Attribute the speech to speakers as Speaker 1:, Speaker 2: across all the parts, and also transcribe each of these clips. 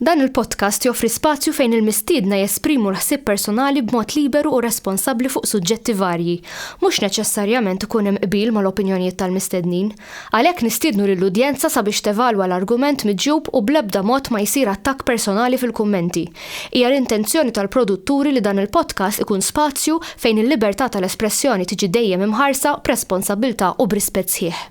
Speaker 1: Dan il-podcast joffri spazju fejn il-mistiedna jesprimu l-ħsieb personali b'mod liberu u responsabbli fuq suġġetti varji. Mhux neċessarjament ikun hemm qbil mal-opinjonijiet tal-mistednin. Għalhekk nistiednu lill-udjenza sabiex tevalwa l-argument miġjub u bl-ebda mod ma jsir attakk personali fil-kummenti. Hija l-intenzjoni tal-produtturi li dan il-podcast ikun spazju fejn il-libertà tal-espressjoni tiġi dejjem imħarsa b'responsabbiltà u b'rispett sħiħ.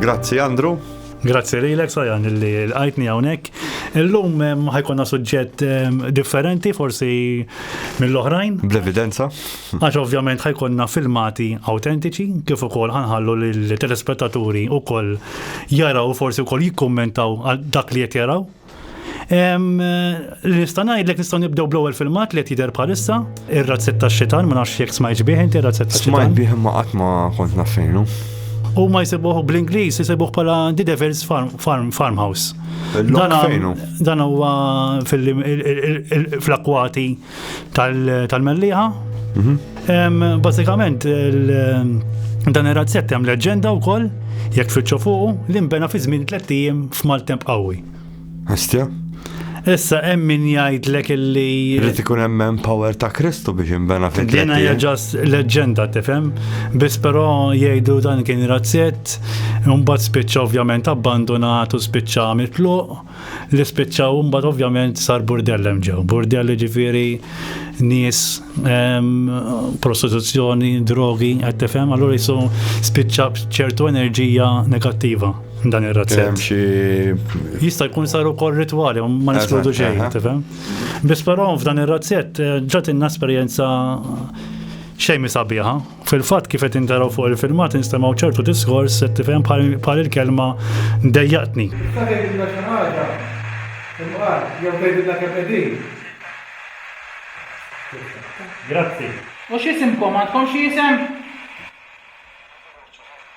Speaker 1: Grazzi Andrew. Grazzi lilek Sajan li l-għajtni hawnhekk. Illum ehm, ħajkonna suġġett ehm, differenti forsi mill-oħrajn. Bl-evidenza. Għax ovvjament ħajkonna filmati autentiċi kif ukoll ħanħallu lill-telespettaturi ukoll jaraw forsi wkoll jikkummentaw dak li qed jaraw Nista' ngħidlek nistgħu nibdew bl-ewwel filmat li qed jidher bħalissa, ir-razzett tax-xitan, ma nafx jekk smajt bih inti razzett tax-xitan. Smajt bih imma qatt ma kont naf xejnu. U ma jsibuh bl-Ingliż jsibuh bħala The Devil's Farm, farm Farmhouse. Dan huwa fil-akwati tal-Melliħa. Mhm. Basikament, dan ir-razzett hemm leġenda wkoll, jekk tfittxu fuqu, li nbena fi żmien tliet ijiem f'maltemp qawwi. Astja? Issa hemm min jgħidlek illi. Rrid ikun hemm power ta' Kristu biex inbena fil Din hija ġast leġġenda tifhem, biss però jgħidu dan kien razzett, imbagħad spiċċa ovvjament abbandonat u spiċċa mitluq. li spiċċaw imbagħad ovvjament sar burdell hemm ġew. Burdell ġifieri nies prostituzzjoni, drogi, qed tifhem, allura jisu spiċċa ċertu enerġija negattiva dan ir-razzett. Jista' jkun sar ukoll ritwali, ma neskludu xejn, tifhem. Biss però f'dan ir-razzett eh, ġatinna esperjenza xejn misabiħa. Fil-fatt kif qed intaraw fuq il-filmat instemgħu ċertu diskors qed tifhem bħal il-kelma dejjaqtni. Tista' tgħidilna xi ħaġa? Imqar, jew tgħidilna kemm qegħdin? Grazzi. U x'isimkom? Għandkom xi isem?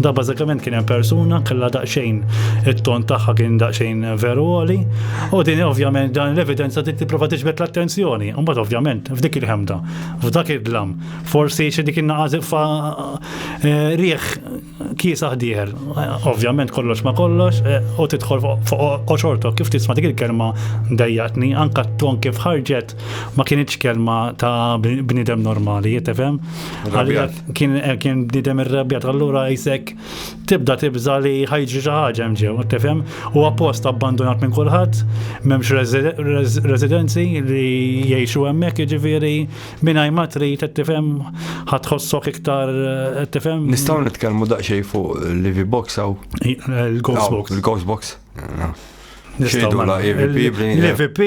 Speaker 1: Da bażikament kien hemm persuna kellha daqsxejn it-ton tagħha kien daqsxejn veru għoli u din ovvjament dan l-evidenza trid tipprova tiġbed l-attenzjoni. Imbagħad ovvjament f'dik il-ħemda, f'dak id-dlam, forsi xi dik in-naqas fa eh, riħ kiesa ħdieħel. Ovvjament kollox ma kollox eh, u tidħol fuq oċortok kif tisma' dik il-kelma dejjaqtni anka t-ton kif ħarġet ma kienitx kelma ta' bniedem normali, jittefhem? kien eh, kien bnidem irrebjat allura jisek tibda tibża li ħajġi xi ħaġa hemm ġew, tifhem? U appost abbandonat minn kulħadd, m'hemmx residenzi li jgħixu hemmhekk jiġifieri mingħajr ma trid qed tifhem ħadd ħossok iktar eh, tifhem. Nistgħu nitkellmu daqsxejn fuq Livy Box hawn. Il-Ghost eh, Box. Il-Ghost Box. Xejdu la EVP L-EVP,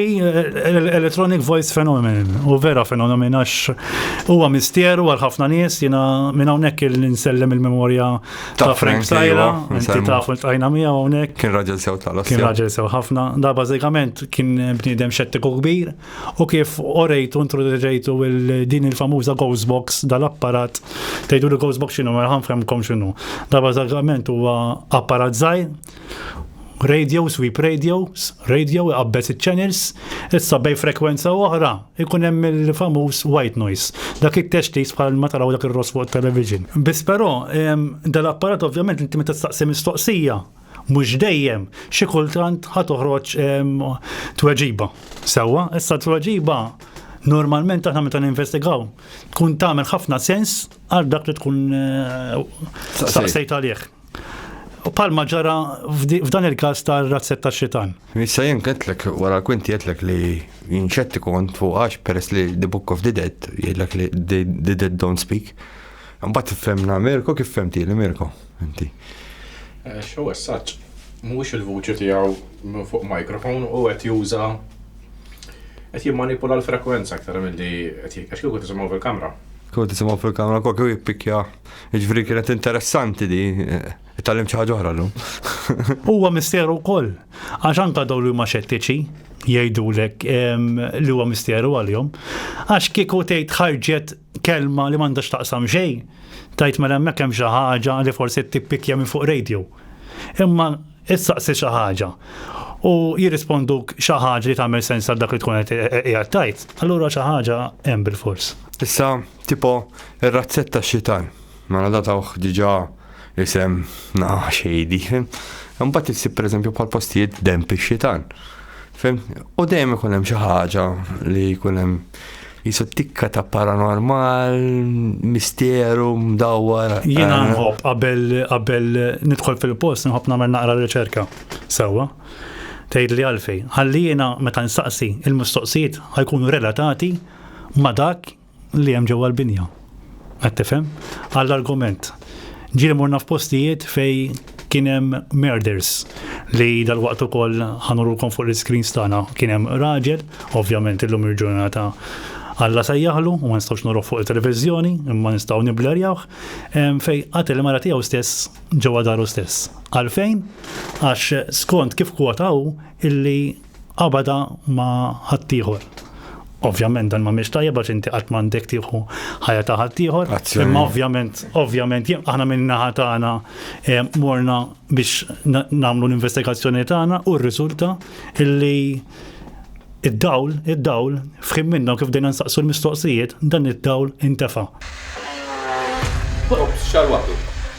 Speaker 1: Electronic Voice Phenomenon, u vera fenomen għax huwa mistieru għal ħafna nies jina minn hawnhekk il-insellem il-memorja ta' Frank Sajra, iva, inti tafu l-tajna miegħu hawnhekk. Kien raġel sew tal Kien raġel sew ħafna, da bażikament kien bniedem xettiku kbir u kif orejtu introduċejtu din il-famuża Ghost Box dal-apparat tgħidu li Ghost Box x'inhu ma nħanfhemkom x'inhu. Da bażikament huwa apparat żgħir radio, sweep radio, radio iqabbez il-channels, issa bej frekwenza oħra ikun hemm il-famuż white noise. Dak it-textis bħal ma taraw dak ir-ross fuq television. Biss però dal-apparat ovvjament inti meta tistaqsi mistoqsija mhux dejjem xi kultant ħa toħroġ tweġiba. Sewwa, issa tweġiba normalment aħna meta ninvestigaw tkun tagħmel ħafna sens għal dak li tkun eh, staqsejt għalih. U palma ġara f'dan il-każ tar-razzett tax-xitan. Issa jien qedlek wara l-kwinti qedlek li jinċetti kont fuq għax peress li the book of the dead jgħidlek li the dead don't speak. Mbagħad tifhemna Mirko kif femti li Mirko inti. Eh, xew essaġġ mhuwiex il-vuċi tiegħu minn fuq mikrofon u qed juża qed jimmanipula l-frekwenza aktar milli qed għax kieku tisimgħu fil-kamra. Kieku tisimgħu fil-kamra kieku jippikja Ġifri kienet interessanti di, tal-lim ċaħġa oħra l-lum. Huwa misteru wkoll, għax anka daw li huma xettiċi jgħidulek li huwa misteru għalihom. Għax kieku tgħid ħarġet kelma li m'għandax taqsam xejn, tajt mela hemmhekk hemm xi ħaġa li forsi tippikja minn fuq radio. Imma issaqsi xi ħaġa u jirrisponduk xi ħaġa li tagħmel sens għal dak li tkun qed tajt, allura xi ħaġa hemm bil-fors. Issa Tipo ir-razzett tax-xitan. Mela da tawh diġà isem na xejdi. Imbagħad issib pereżempju bħal postijiet demp ix-xitan. Fim? U dejjem ikun hemm xi ħaġa li jkun hemm jisu tikka ta' paranormal, misteru, mdawwar. Jiena eh. nħobb qabel qabel nidħol fil-post nħobb nagħmel naqra riċerka sewwa. Tgħid li għalfej. Ħalli jiena meta nsaqsi il-mistoqsijiet ħajkunu relatati ma' dak li hemm ġewwa l-binja. Qed tifhem? Għall-argument. Ġieli morna f'postijiet fej kien hemm murders li dal-waqt ukoll ħanurulkom fuq l-iskrin stana kien hemm raġel, ovvjament illum il-ġurnata Alla sajjaħlu u ma nistgħux noroh fuq il-televiżjoni, imma nistgħu niblerjawh, fej qatel mara tiegħu stess ġewwa daru stess. Għalfejn? Għax skont kif kwotaw illi qabadha ma' ħaddieħor. Ovvjament dan m'għamilx tajjeb għax inti qatt m'għandek tieħu ħajja ta' ħaddieħor. Imma ovvjament, ovvjament, aħna minn naħa tagħna eh, morna biex nagħmlu l-investigazzjoni tagħna u rriżulta illi id-dawl, id-dawl, fħim minna kif dejna nsaqsu l-mistoqsijiet, dan id-dawl intefa. Xarwatu.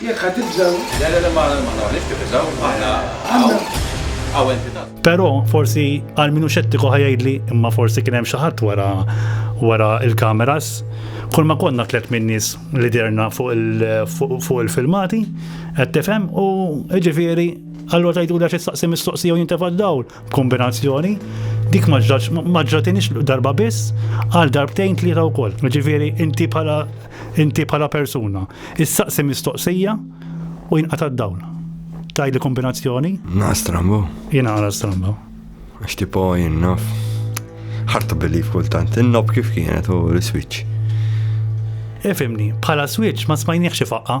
Speaker 1: Jekk ħa tibżgħu. Le, le, le, ma noqogħdniex nibżgħu, aħna hawn, hawn entità. Però forsi għal min hu xettiku ħa jgħidli imma forsi kien hemm xi ħadd wara wara il-kameras. Kull ma konna tliet min-nies li derna fuq il-filmati, qed tifhem u ġifieri allura tgħidu għax issaqsi mistoqsija u jintefa' d-dawl. b'kombinazzjoni, dik ma ġrax ma ġratinix darba biss għal darbtejn tlieta wkoll. Ġifieri inti bħala inti bħala persuna. Issaqsi mistoqsija u jinqata' d-dawl. Tajli kombinazzjoni? Na strambo. Jina għala strambo. Għax tipo jinnaf. Ħarta billi kultant, innob kif kienet u l-switch. Ifimni, bħala switch ma smajniex xi faqqa.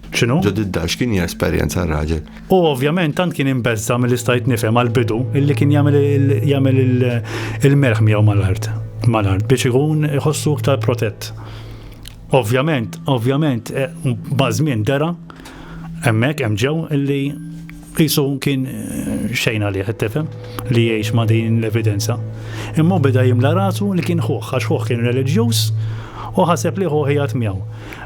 Speaker 1: Xinu? Ġod id-dar, x'kien hija esperjenza r-raġel? U ovvjament tant kien imbezza mill istajt nifhem għal-bidu illi kien jagħmel il-merħ miegħu mal-art. Mal-art biex ikun iħossu iktar protett. Ovvjament, ovvjament, eh, bażmien dera hemmhekk hemm ġew illi Qisu kien xejn għalih it-tifhem li jgħix ma' din l-evidenza. Imma beda jimla rasu li kien ħuħ għax ħuħ kien reliġjuż u ħaseb li ħuħ jgħat miegħu.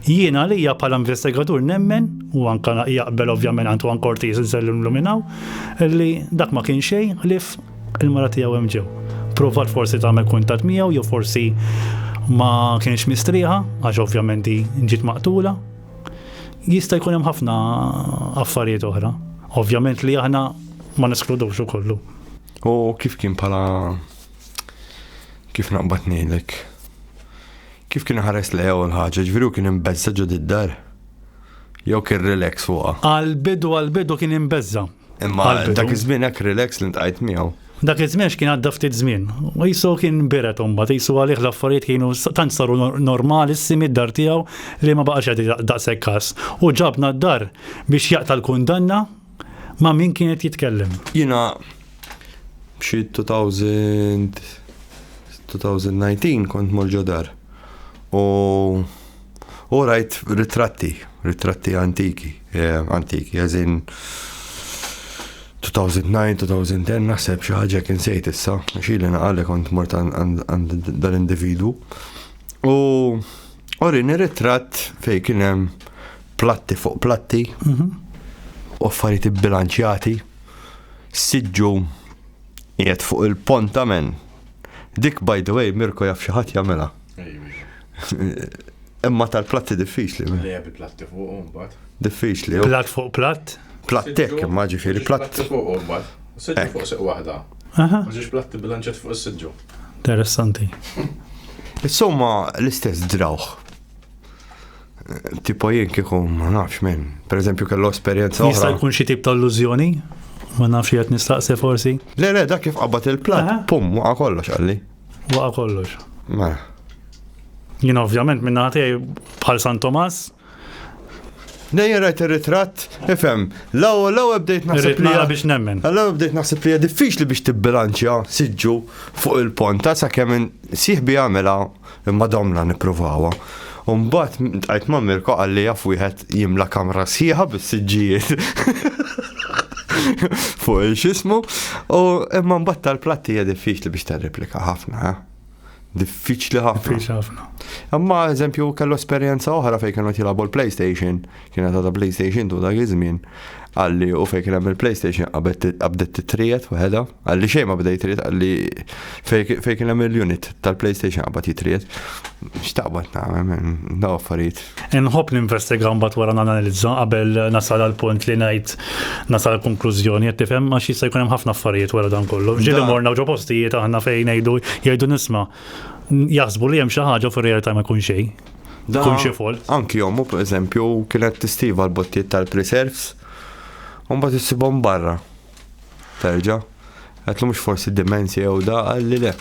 Speaker 1: Jien għalija bħala investigatur nemmen, u anka jaqbel ovvjament għandu għan kortiż nżellu nluminaw, li dak ma kien xejn ħlif il-mara tiegħu hemm ġew. Provat forsi tagħmel kuntat miegħu jew forsi ma kienx mistrieħa, għax ovvjament ġiet maqtula, Jista' jkun hemm ħafna affarijiet oħra. Ovvjament li aħna ma neskludux ukollu. U kif kien pala kif naqbad ngħidlek? Kif kien ħares li jew l-ħaġa, ġifieri kien imbezza ġod id-dar? Jew kien relax fuqha? Għal-bidu għal-bidu kien imbezza, Imma dak iż-żmien hekk relax li ntqajt miegħu. Dak iż-żmien x'kien għadda ftit żmien. U jisu kien biret imbagħad, jisu għalih l-affarijiet kienu tant saru normali s-simi d-dar tiegħu li ma baqax qed daqshekk każ. U ġabna d-dar biex jaqta' l-kundanna ma' min kien qed jitkellem. Jiena xi 2000 2019 kont morġo dar. U U rajt ritratti, ritratti antiki, eh, antiki, għazin 2009, 2010, naħseb xi ħaġa kien sejt issa, xili naqalli kont mort għand dal-individu. U orini ritratt fej kien hemm platti fuq platti, mhm. u affarijiet ibbilanċjati, siġġu qiegħed fuq il-pont amen. Dik by the way, Mirko jaf xi ħadd jagħmilha. Imma tal-platti diffiċli. Li għabi platti fuq un bat. Diffiċli. Platt fuq platt? Plattek, imma ġifiri platt. Platti fuq un bat. Sidġu fuq seq wahda. Maġiġ platti bilanċet fuq sidġu. Interessanti. Insomma, l-istess drawħ. Tipo jien kikum, ma nafx minn. Per eżempju, kellu esperienza. Jista' jkun xi tip ta' illużjoni? Ma nafx jgħat nistaqsi forsi. Le, le, dak kif qabad il-plat, pum, waqa kollox għalli. Waqa kollox. Ma. Jina ovvjament minna ħatej bħal San Tomas. Nejja rajt il-ritrat, ifem, law law bdejt naħseb li biex nemmen. Law bdejt naħseb li diffiċli biex tibbilanċja siġġu fuq il-ponta sa' kemm siħbi għamela imma domna niprovawa. U mbagħad tqajt ma' Mirko qalli jaf wieħed jimla kamra sħiħa bis-siġġijiet. Fuq il-xismu, u imma mbagħad tal-platti hija diffiċli biex tirreplika ħafna, eh? diffiċli ħafna. Imma eżempju kellu esperjenza oħra fejn kienu jilabu l-PlayStation, kienet għadha PlayStation tu dak iż-żmien, għalli u fejn kien hemm il-PlayStation qabdet titrijet waħedha. Għalli xejn ma bda jitriet, għalli fej kien hemm il-unit tal-PlayStation qabad jitriet. X'taqbad nagħmel daw affarijiet. Inħobb ninvestiga mbagħad wara nanalizza qabel nasal għal punt li ngħid nasal konklużjoni qed tifhem għax jista' jkun hemm ħafna affarijiet wara dan kollu. Ġieli morna ġo postijiet aħna fejn ngħidu jgħidu nisma' jaħsbu li hemm xi ħaġa fir-realtà ma jkun xejn. Kun xi fol. Anki jommu, per eżempju, kienet tistiva l-bottijiet tal-preserves, un bat barra. Terġa'. Għedlu mhux forsi dimensja jew da, għalli le.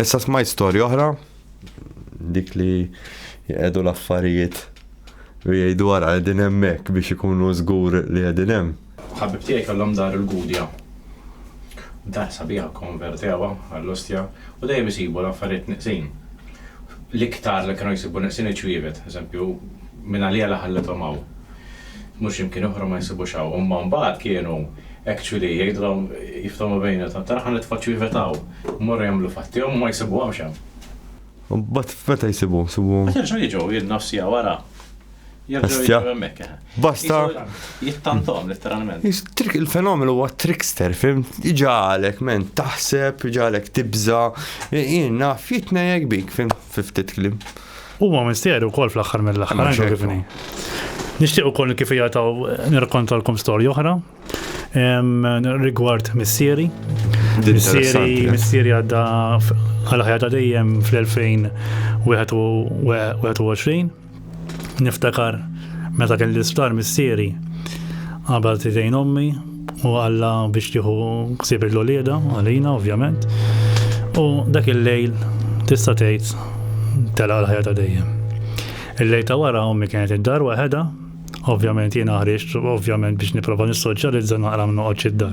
Speaker 1: Issa smajt storja oħra, dik li jgħedu l-affarijiet u jgħidu għara għedin hemmhekk biex ikunu żgur li għedin hemm. Ħabib tiegħi kellhom dar il-Gudja. Dar sabiħa konvertewa għall-ostja u dejjem isibu l-affarijiet niqsin. L-iktar li kienu jsibu niqsin iċ-ċwievet, eżempju, minn għalija li ħallethom hawn. Mhux imkien oħra ma jsibux hawn. Imma mbagħad kienu actually jgħidulhom jiftehmu bejniethom, tara ħa nitfaċċu jivetaw. Imorru jagħmlu fatti hawn u ma jsibuhomx hemm. U mbagħad f'meta jsibuhom? Jsibuhom. Mbagħad jerġgħu jiġu jien nofs siegħa wara. Jerġgħu jiġu hemmhekk. Basta. Jittantom letteralment. Il-fenomenu huwa trickster, fim? Iġalek men taħseb, iġalek tibża, jien naf jitnejjek bik, fim? fi ftit kliem. Huma mistieri wkoll fl-aħħar mill-aħħar kif inhi. Nixtieq ukoll kif hija taw nirkontalkom storja oħra rigward missieri. Missieri, missieri għadda għal ħajja ta' dejjem fl-2021 Niftakar meta kelli l-isptar missieri qabel tidejn ommi u għalla biex tieħu ksib il-lolieda għalina ovvjament. U dak il-lejl tista' tgħid telaq l-ħajja ta' dejjem. Il-lejl ta' wara ommi kienet id-dar waħedha Ovvjament jiena ħriġt, ovvjament biex nipprova nissoċjalizza naqra noqgħodx id-dar.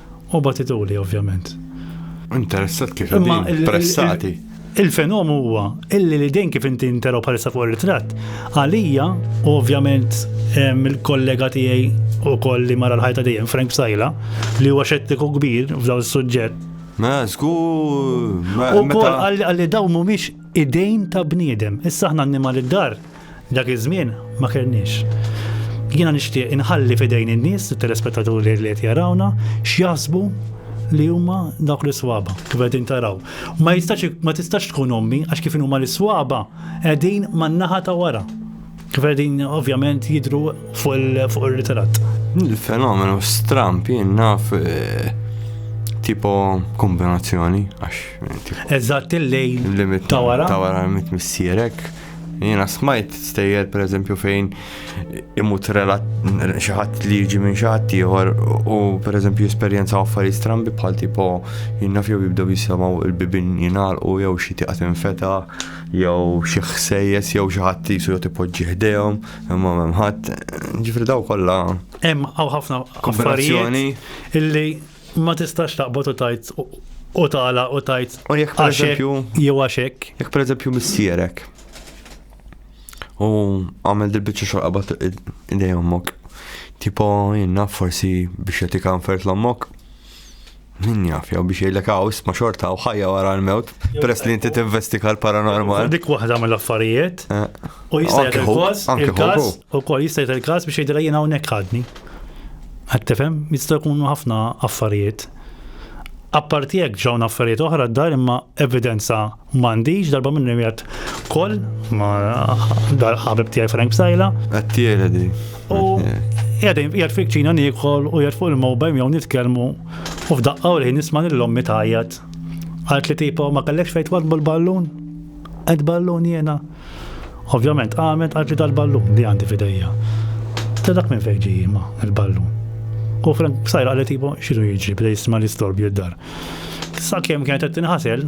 Speaker 1: U batituli, ovvjament. Interessat kif qegħdin pressati. Il-fenom huwa illi li dejn kif inti intero bħalissa fuq ir-ritratt, għalija u ovvjament il-kollega tiegħi u koll li mara l-ħajta dejjem Frank Sajla li huwa xettiku kbir f'daw is-suġġett. Ma żgur. U koll għalli daw mhumiex idejn ta' bniedem. Issa aħna annimali d-dar Dak iż-żmien ma kellniex. Jiena nixtieq inħalli f'idejn in-nies, it-telespettaturi li qed jarawna, x'jaħsbu li huma dawk l-iswaba kif qegħdin taraw. Ma jistax ma tistax tkun ommi għax kif huma l-iswaba qegħdin man-naħa ta' wara. Kif qegħdin ovvjament jidru fuq ir-ritratt. Il-fenomenu stramp jien naf eh, tipo kombinazzjoni għax. Eh, Eżatt il-lejn ta' wara. Ta' wara mit missierek. Jiena smajt stejjer per eżempju fejn imut xaħat li jiġi minn xaħat ieħor u per eżempju esperjenza affarijiet strambi bħal tipo jinnaf fjew jibdew jisamaw il-bibin jinar u jew xi tiqat infeta jew xi ħsejjes jew xi ħadd jisu jew tipoġġi ħdejhom imma m'hemm ħadd ġifri daw kollha. Hemm hawn ħafna affarijiet illi Ma tistax taqbad u tajt u tala u tajt. U jekk per eżempju. Jew għaxek. Jekk per eżempju missierek. U għamel dil-bicċa xogħol qabad idej ommok. Tipo jenna forsi biex jagħtik għanfert l-ommok. Min jaf, jew biex jgħidlek għaw isma xorta u ħajja wara l-mewt, peress li inti tinvestika l-paranormal. Dik waħda mill-affarijiet. Eh. U jista' jgħid il-każ, il-każ, ukoll jista' jgħid il-każ biex jgħidilha jien hawnhekk ħadni. Qed tifhem, jista' jkunu ħafna affarijiet. Apparti hekk ġew affarijiet oħra d-dar imma evidenza m'għandix darba minn jgħid koll ma dar ħabib tiegħi Frank Sajla. Għattiela di. U jgħadin jgħad fik ċina nikol u jgħad fuq il-mobile jew nitkellmu u f'daqqa u li nisma' lill-ommi tajjat. Għalt li tipo ma kellekx fejt wad bil-ballun? Għed ballun jena. Ovvjament qamet qalb li dal-ballun li għandi f'idejja. Ta' dak minn fejn ġej ma il-ballun. U Frank b'sajra qalet ibu xilu jiġri bda jisma' l-istorbju d-dar. Sakemm kienet qed tinħasel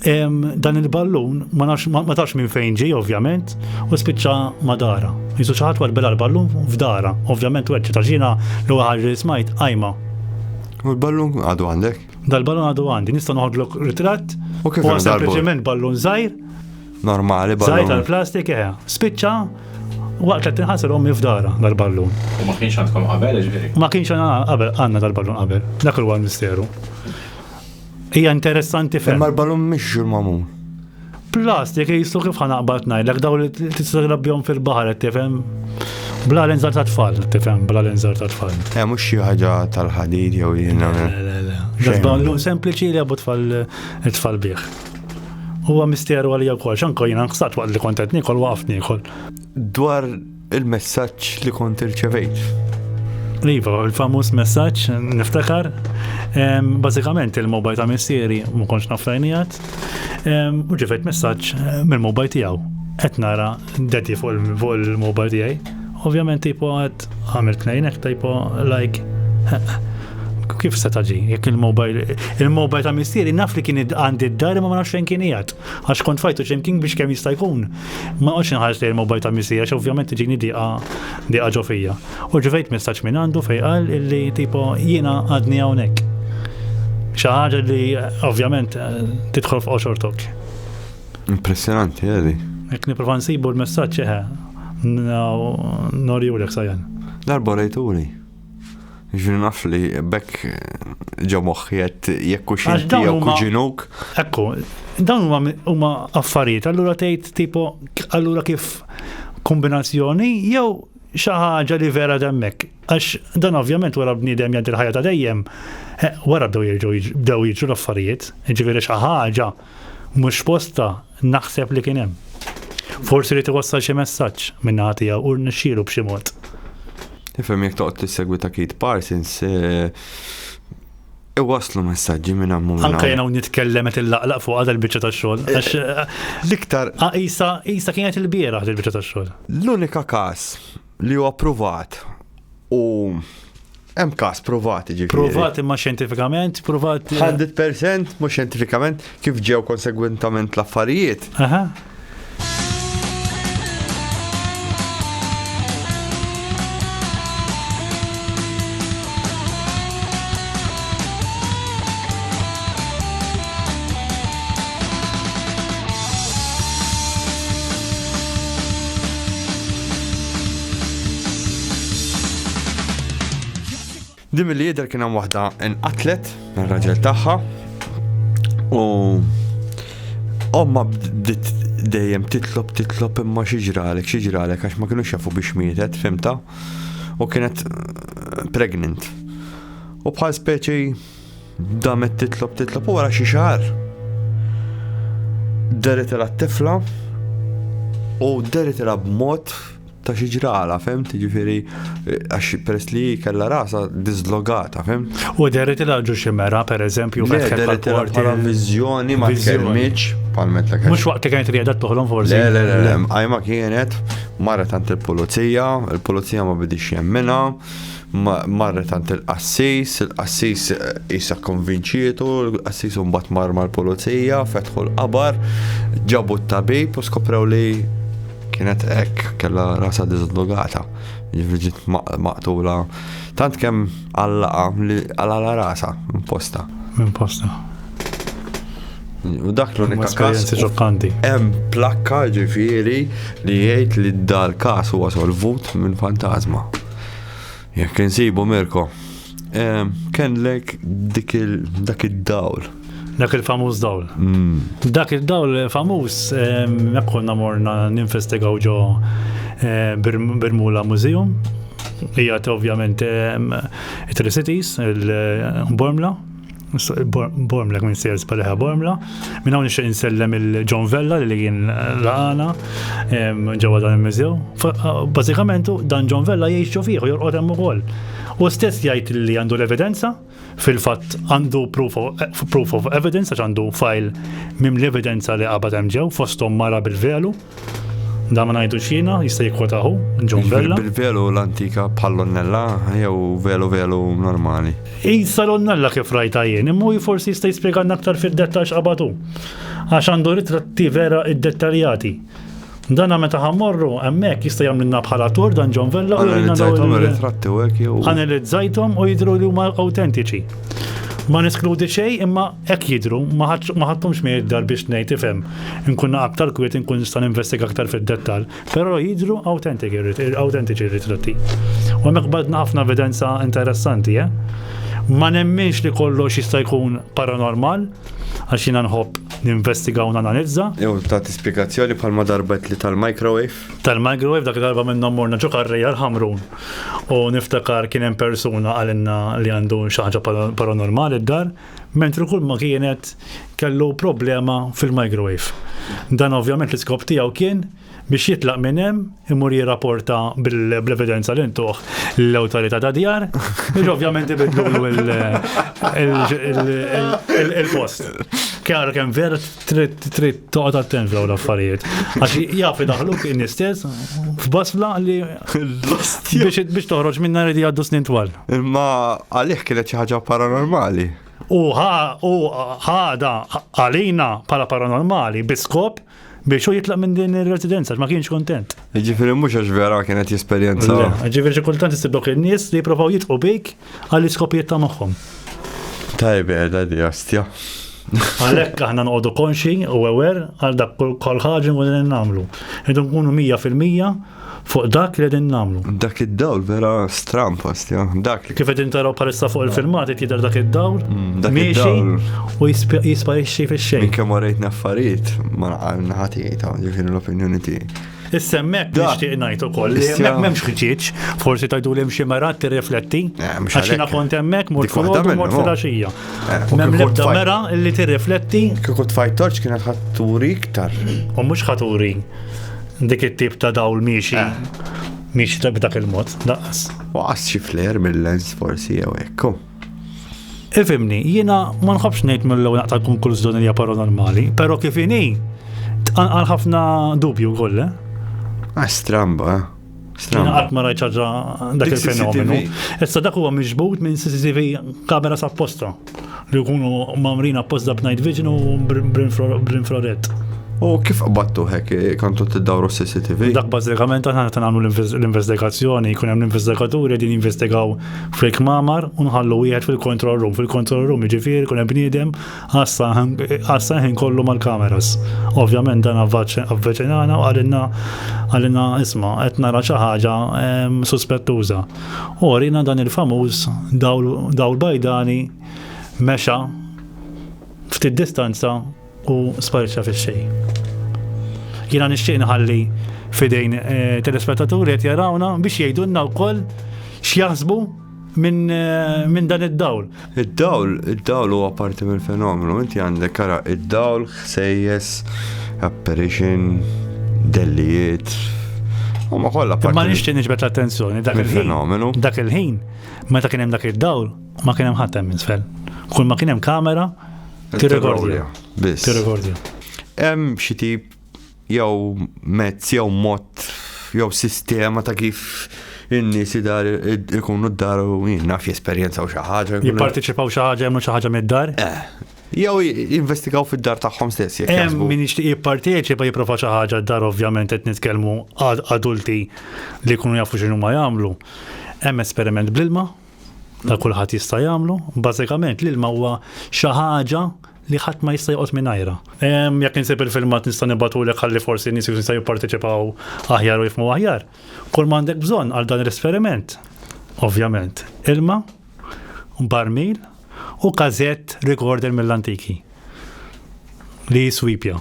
Speaker 1: dan il-ballun ma nafx ma tafx minn fejn ġej ovvjament u spiċċa ma dara. Jisu xi ħadd warbela l-ballun f'dara. Ovvjament weċċi ta' xina l-ewwel ħaġa li smajt qajma. U l-ballun għadu għandek? Dal-ballun għadu għandi, nista' noħodlok ritratt. U kif għandha sempliċement ballun żgħir. Normali ballun. Żgħir tal-plastik eħe. Eh. Spiċċa waqt li tinħasel ommi f'dara dal-ballun. U ma kienx għandkom qabel ġifieri? Ma kienx qabel għandna dal-ballun qabel. Dak huwa l-misteru. Hija interessanti ferm. Ma l-ballun mhix ġurmamun. Plast, jekk jistu kif ħanaqbad ngħidlek daw li tista' trabbihom fil-baħar qed tifhem. Bla l-inżar ta' tfal, tifhem, bla l-inżar ta' tfal. Eh, mhux xi ħaġa tal-ħadid jew jiena. Għazbanlu sempliċi li għabu tfal tfal bih. Huwa misteru għalija wkoll, xanko jiena nħsat waqt li kontet nikol waqft nikol. Dwar Il-messaġġ li kont irċevejt. Iva, il-famuż messaġġ niftakar, bażikament il-mobile ta' missieri ma kontx naf lajnijat, u ġifejt messaġġ mill-mobile tiegħu. Qed nara daddy fuq il-mobile tiegħi. Ovvjament tipo għad għamil tnejnek tipo like kif se taġi, jekk il-mobile, il-mobile ta' missieri naf li kien għandi d-dar ma nafx fejn kien jgħad. Għax kont fajtu ximkien biex kemm jista' jkun. Ma għax inħares li l-mobile ta' missi għax ovvjament tiġini diqa diqa ġofija. U ġivejt messaġġ minn għandu fej qal illi tipo jiena għadni hawnhekk. Xi ħaġa li ovvjament tidħol f'qoxortok. Impressionanti għadi. Ek niprofa nsibu l-messaġġ eħe. Norjulek sajan. Darba rejturi. Ġri naf li bekk ġo moħħi qed jekk u xinti jew kuġinuk. Ekku, dawn huma affarijiet, allura tgħid tipo allura kif kombinazzjoni jew xi ħaġa li vera demmek. Għax dan ovvjament wara bniedem jgħaddi l-ħajja ta' dejjem, eh, wara bdew jiġu bdew jiġu l-affarijiet, ġifieri xi ħaġa Mhux f'postha, naħseb li kien hemm. Forsi ried iwassal xi messaġġ min-naħa tiegħu u rnexxielu b'xi mod. Tifhem jekk toqgħod tissegwi ta' Keith Parsons, eh, iwaslu messaġġi minn hemm minn Anke jena nitkellem qed illaqlaq fuq għadha l-biċċa tax-xogħol. Eh, għax eh, l-iktar qisha qisha kienet il-bieraħ il-biċċa tax-xogħol. L-unika każ Li huwa provat u hemm każ provat ġifieri. Provat imma xjentifikament, provat. 100% mhux xjentifikament kif ġew konsegwentament l-affarijiet. Aha. Din mill-li jidher kien hemm waħda inqatlet mir-raġel tagħha u omma bdiet dejjem titlob titlob imma xi ġralek xi ġralek għax ma kienux jafu biex mietet fimta u kienet eh, pregnant. U bħal speċi Damet titlob titlob u wara xi xahar. Deritela t-tifla u deritela b'mod ta' xi ġrala, fem, tiġifieri għax peress li kellha rasa dislogata, fem. U deritela ġu xi mera, pereżempju, meta deritela bħala viżjoni ma tkellmitx palmet l Mhux waqt li kienet rieda toħlom forsi. Le, le, le, għajma kienet marret tant il-pulizija, il-pulizija ma bidix jemmina, Marret għand il-qassis, il-qassis qisha kkonvinċietu, il-qassis imbagħad mar mal-pulizija, fetħu l-qabar, ġabu t-tabib u skoprew li kienet hekk kellha rasa diżollogata, jiġifieri maqtula tant kemm għallaqa li għalala rasa minn posta. Minn posta. U dak l-unika każ ġokanti. Hemm plakka ġifieri li jgħid li dal-każ huwa solvut minn fantasma. Jekk insibu Mirko. Kenlek dik dak id-dawl. Dak il-famuż dawl. Mm. Dak id-dawl famuż jekk konna morna ninvestigaw ġo eh, Birmula Museum. Hija ovvjament it-Tricities, il-Bormla, Bormlek minn Sales Paleħa Bormla. Minn hawn nixtieq insellem il-John Vella li kien laqana ġewwa dan il-mużew. Bażikament dan John Vella jgħix ġo fih u jorqod hemm ukoll. U stess jgħid li għandu l-evidenza, fil-fatt għandu proof of evidence għax għandu file mim l-evidenza li qabad hemm ġew fosthom mara bil-velu. Da ma ngħidu xina, jista' jikkwota hu, John Bella. Bil-velu l-antika bħall-onnella jew velu velu normali. Issa l-onnella kif rajta jien, imma forsi jista' jispjegalna aktar fid-dettax qabatu. Għax għandu ritratti vera id-dettaljati. Dana meta ħammorru, emmek jista' jagħmlilna bħala tur dan John Vella u Analizzajthom ir-ritratti u hekk jew. Analizzajthom u jidhru li huma awtentiċi. Ma neskludi xejn imma Hekk jidhru, ma ħadthomx miegħi d-dar biex ngħid ifhem, inkun naqgħad aktar kwiet inkun nista' ninvestiga aktar fid-dettall, però jidhru awtentiċi r-ritratti. U hemmhekk qbadna ħafna evidenza interessanti, eh. Ma nemminx li kollox jista' jkun paranormal, għax jiena nħobb ninvestiga u nanalizza. Jew ta' spjegazzjoni bħalma darbet li tal-microwave? Tal-microwave dak darba minnhom morna ġo karrija l-ħamrun u niftakar kien hemm persuna għalinna li għandu xi ħaġa paranormali d-dar. mentri kulma kienet kellu problema fil-microwave. Dan ovvjament l-iskop tiegħu kien biex jitlaq minn hemm imur jirrapporta bl-evidenza li ntuħ l-awtorità ta' djar, biex ovvjament ibidlu il-post. Kjar kemm vert trid trid toqgħod attent f'dawn l-affarijiet. Għax jaf idaħluk in istess f'basla li biex toħroġ minna ridi għaddu snin twal. Imma għalih kienet xi ħaġa paranormali. U ħada għalina pala paranormali biskop biex u jitlaq minn din il-residenza, ma kienx kontent. Ġifiri mux għax vera kienet jesperienza. Ġifiri xi kultant istiblok il-nies li jiprofaw jitqu bik Għall-iskopijiet ta' moħħhom. Tajb qiegħda di ostja. Għalhekk aħna noqogħdu konxi u ewer għal dak kol ħaġa u din nagħmlu. Idu nkunu 100% fuq dak li din namlu. Dak id-dawl vera stram postja. Dak. Kif qed intaraw palissa fuq il-filmat qed jidher dak id-dawl. Mm, dak id-dawl. U jisparixxi fix-xejn. Kemm warejt naffariet ma naqal naħati jgħid ġifieri l-opinjoni tiegħi. Issa hemmhekk nixtieq ngħid ukoll li hemmhekk m'hemmx ħġieġ, forsi tajdu li xi mera tirrifletti. Eh, għax jiena kont hemmhekk mort fil-ħodu mort fil-għaxija. Eh, M'hemm l-ebda mera li tirrifletti. Kieku tfajt torċ kienet ħatturi iktar. U mhux ħaturi dik it-tip ta' dawl miexi. Eh. Miexi ta' b'dak il-mod, daqas. Waqas xi fler mill-lens forsi jew ekku. Ifimni, jiena ma nħobx ngħid mill-ewwel naqta' konklużjoni li hija paranormali, però kif inhi tqanqal ħafna dubju wkoll. Eh? Ah, stramba, eh? Stramba. Qatt ma rajt ħaġa dak il-fenomenu. Issa dak huwa miġbud minn CCTV kamera sa posta li jkunu mamrin apposta b'night vision u bl-infrared. U kif qbattu hekk eh, kantu t-dawru CCTV? Dak bazzikament għana t-għamlu l-investigazzjoni, kun hemm l-investigaturi din investigaw fil-kmamar u nħallu wieħed fil-control room. Fil-control room jiġifieri jkun hemm bniedem għassa ħin kollu mal-kameras. Ovvjament dan avveċinana u għalina għalina isma' qed nara xi ħaġa ehm, suspettuża. U għalina dan il-famuż dawl bajdani mexa ftit distanza U sparixxa fix-xejn. Jiena nixtieq nħalli fidejn eh, telespettaturi qed jarawna biex jgħidulna wkoll x'jaħsbu minn eh, min dan id-dawl. Id-dawl, id-dawl huwa parti mill-fenomenu, inti għandek kara id-dawl, ħsejjes, apparition, dellijiet, U ma kollha parti. Ma nixtieq niġbed l-attenzjoni dak il-fenomenu. Dak il-ħin, meta kien hemm dak id-dawl, ma kien hemm ħadd hemm isfel. Kull ma kien hemm kamera, Tirregordja. Biss. Tirregordja. Hemm xi tip jew mezz jew mod jew sistema ta' kif in-nies idar ikunu d-dar u naf jesperjenzaw xi ħaġa. Jipparteċipaw xi ħaġa jagħmlu xi ħaġa mid-dar? Eh. Jew investigaw fid-dar tagħhom stess jekk. Hemm min jixtieq jipparteċipa jipprova xi ħaġa d-dar ovvjament qed nitkellmu adulti li jkunu jafu x'inhu ma jagħmlu. Hemm esperiment bl-ilma, ta' kulħadd jista' jagħmlu. Bażikament l-ilma huwa xi ħaġa li ħadd ma jista' joqgħod mingħajra. Jekk insib il-filmat nista' nibatulek ħalli forsi nies jista' jipparteċipaw aħjar u jifmu aħjar. Kull ma għandek bżonn għal dan l-esperiment, ovvjament, ilma, barmil u kazett recorder mill-antiki li swipja,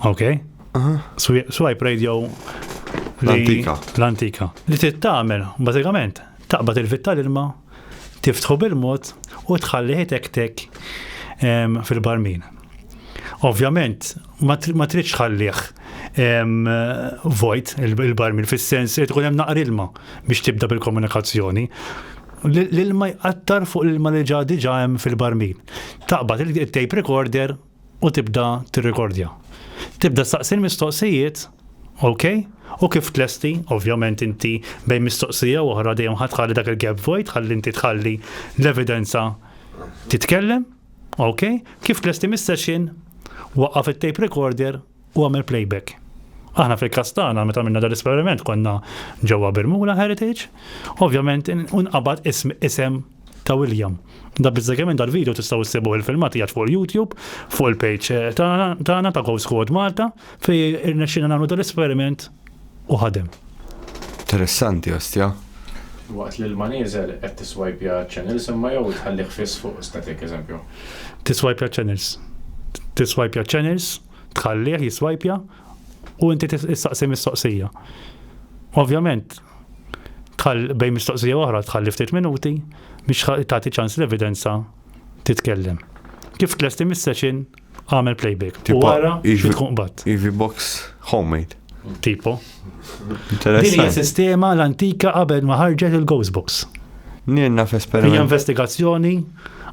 Speaker 1: ok? Swipe radio l-antika. L-antika. Li tittamel, bażikament, Taqbad il-vit tal-ilma, tiftħu bil-mod u tħalli ħitektek fil-barmin. Ovvjament, ma tridx ħallih vojt il-barmin fis-sens li tkun hemm naqar ilma biex tibda bil-komunikazzjoni. L-ilma jqattar fuq l-ilma li ġa diġa hemm fil-barmin. Taqbad il-tape recorder u tibda tirrikordja. Tibda staqsi l-mistoqsijiet, ok, u kif tlesti, ovvjament inti bejn mistoqsija u oħra dejjem ħadd tħalli dak il-gap vojt ħalli inti tħalli l-evidenza titkellem, ok, kif tlesti mis-session, waqqaf it-tape recorder, u għamel playback. Aħna fil-kas tagħna meta minna dal-esperiment konna ġewwa Birmula Heritage, ovvjament unqabad ism isem ta' William. Da bizzegħement dal-video tistaw issibu il-filmati għad fuq il-YouTube, fuq il-page eh, tagħna ta' Ghost Squad Malta, fej irnexxina nagħmlu dal-esperiment u ħadem. Interessanti ostja. Waqt li l-ma nieżel qed tiswajpja ċ-channels imma jew tħallih fiss fuq static eżempju. Tiswajpja ċ-channels. Tiswajpja ċ-channels, tħallih jiswajpja u inti tistaqsi mistoqsija. Ovvjament, tħall bejn mistoqsija oħra tħalli ftit minuti biex tagħti ċans l-evidenza titkellem. Kif tlesti mis-session Għamel playback. U Tipo, għara iġbi- xi tkun qbad. Ivi box homemade. Tipo. Din hija Interessant. sistema l-antika qabel ma ħarġet il-Ghost Box. Nirna Hija f'esperiment. investigazzjoni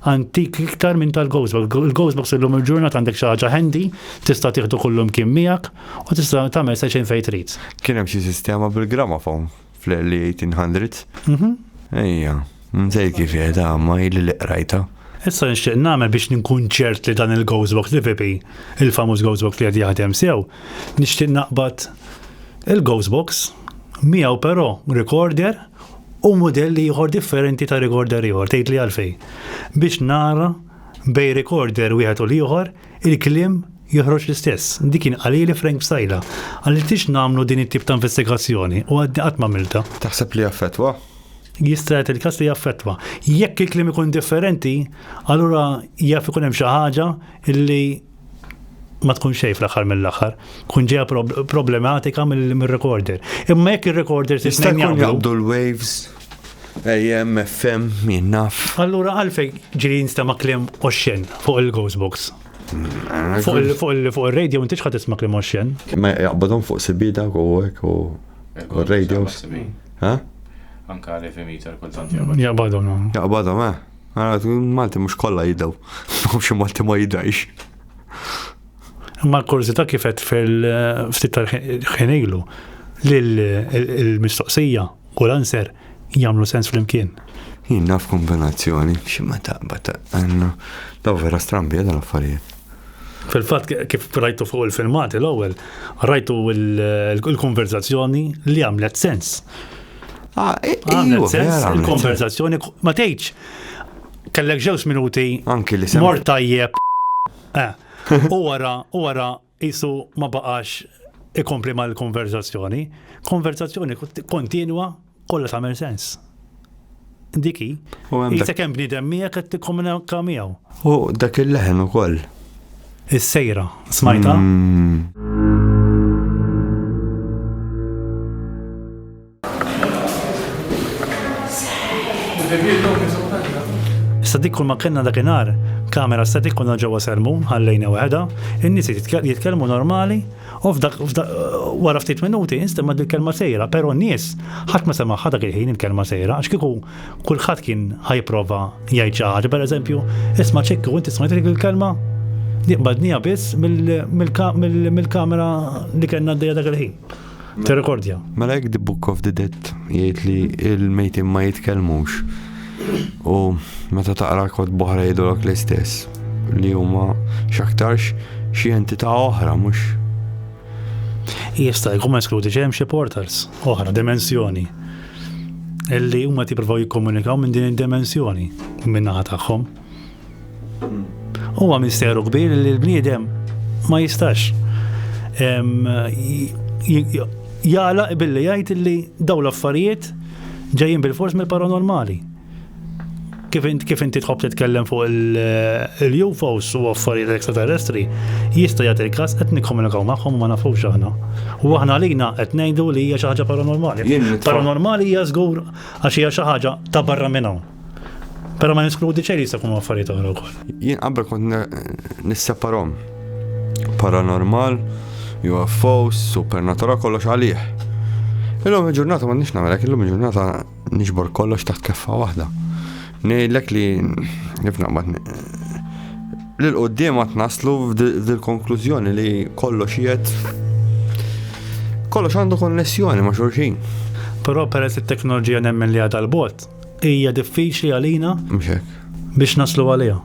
Speaker 1: antik iktar minn tal-Ghost Box. Il-Ghost Box illum il-ġurnat għandek xi ħaġa handy, tista' tieħdu kullum kien miegħek u tista' tagħmel seċin fejn trid. Kien hemm xi sistema bil-gramafon. Fl-early 1800s? Mhm. Ejja, mżej kif jgħid għamma ili li qrajta. Issa nixtieq nagħmel biex ninkun ċert li dan il-Ghostbox li Vipi, il-famuż Ghostbox li qed jaħdem sew, nixtieq naqbad il-Ghostbox miegħu però recorder u modell ieħor differenti ta' recorder ieħor, tgħid li għalfej. Biex nara bej recorder wieħed u l-ieħor Il-kliem joħroġ l-istess. Dik kien qalili Frank Psaila. Qaliltix nagħmlu din it-tip ta' investigazzjoni u għadni qatt m'għamiltha. Taħseb li jaffettwa? Jista' jagħti l-każ li jaffettwa. Jekk il-kliem ikun differenti, allura jaf ikun hemm xi ħaġa li ma tkun xejn fl-aħħar mill-aħħar, kun ġeja problematika mill-recorder. Imma jekk ir-recorder tista' jkun jaqbdu l-waves AMM, FM, min naf. Allura għalfejn ġiri jinstema' kliem oxxen fuq il-Ghost Box? Fuq il-radio inti xħat isma' kliem oxxen? Ma jaqbadhom fuq sibida u hekk u radios. Ha? Anka li fi meter kultant jaqbadhom. Jaqbadhom. Jaqbadhom, eh. Malti mhux kollha jiddew. Mhux Malti ma jidhajx. Ma l-kurzita kifet fil-ftit tal-ħin li l-mistoqsija u l-answer jagħmlu sens flimkien. Jien naf kombinazzjoni, xi ma taqbad għandna daw vera strambi dan affarijiet. Fil-fatt kif rajtu fuq il-filmati l-ewwel, rajtu l-konverzazzjoni li għamlet sens. Ah, eh, għamlet sens il-konverzazzjoni ma tgħidx kellek ġew minuti. Anki li Mort tajjeb. Eh, u wara, u wara Qisu ma baqax ikompli mal-konverzazzjoni. Konverzazzjoni kontinwa kollha tagħmel sens. Diki, jisek hemm bniedem miegħek qed tikkomunika miegħu. U dak il-leħen ukoll. Is-sejra, smajta? Mm. Issa dik kull ma kellna dakinhar, kamera static konna ġewwa sermun, ħallejna waħedha, in-nies jitkellmu normali, u f'dak wara ftit minuti instemma dik kelma sejra, però n-nies ħadd ma semagħha dak il-ħin il-kelma sejra, għax kieku kulħadd kien ħajprova jgħid xi ħaġa, pereżempju, isma' ċekk u inti smajt dik il-kelma? Diqbadnija biss mill-kamera li kellna għaddejja dak il-ħin. Tirrekordja. Mela jekk The Book of the Dead jgħid li il-mejtin ma jitkellmux u meta taqra kod boħra jgħidulok l-istess li huma x'aktarx xi entità oħra mhux. Jista' jkun eskludi ġejjem xi portals oħra, dimensjoni illi huma tippruvaw jikkomunikaw minn din id-dimensjoni minn naħa tagħhom. Huwa misteru kbir li l-bniedem ma jistax jala billi jgħid li daw l-affarijiet ġejjin bil-fors mill-paranormali. Kif inti kif inti tħobb titkellem fuq il-UFOs u affarijiet extraterrestri, jista' jagħti l-każ qed nikkomunikaw magħhom ma nafux aħna. U aħna għalina qed ngħidu li hija xi ħaġa paranormali. Paranormali hija żgur għax hija xi ħaġa ta' barra minn hawn. Pero ma neskludi ċej li jista' jkunu affarijiet oħra wkoll. Jien qabel kont nisseparhom paranormal, UFOs, supernatura kollox għalih. Illum il-ġurnata ma nix namelek, illum il-ġurnata nixbor kollox taħt keffa waħda. Nejlek li nifna bat li l-qoddim għat naslu f'dil-konklużjoni li kollox jiet kollox għandu konnessjoni ma' xurxin. Però peress it-teknoloġija nemmen li għadha l-bot, hija diffiċli għalina biex naslu għaliha.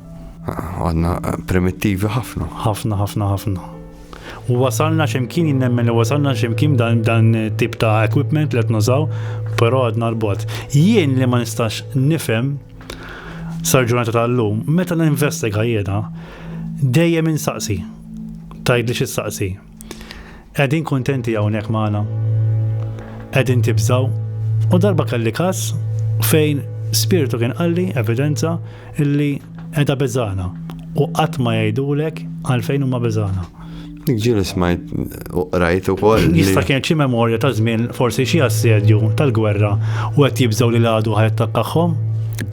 Speaker 1: Għadna eh, primittivi ħafna. Ħafna, ħafna, ħafna. U wasalna ximkien jinnemmen li wasalna ximkien dan dan tip ta' equipment li nużaw, però għadna l-bot. Jien li ma nistax nifhem sarġunata tal-lum, meta n-investiga jiena, dejjem insaqsi, tajd li xissaqsi. Qegħdin kuntenti hawnhekk magħna? Qegħdin tibżgħu? U darba kelli każ fejn spirtu kien qalli evidenza illi qiegħda beżana u qatt ma jgħidulek għalfejn huma beżana. Ġili smajt u rajt u koll. Jista kien xi memorja ta' żmien forsi xi assedju tal-gwerra u qed jibżgħu li l-għadu ħajt takkaħħom?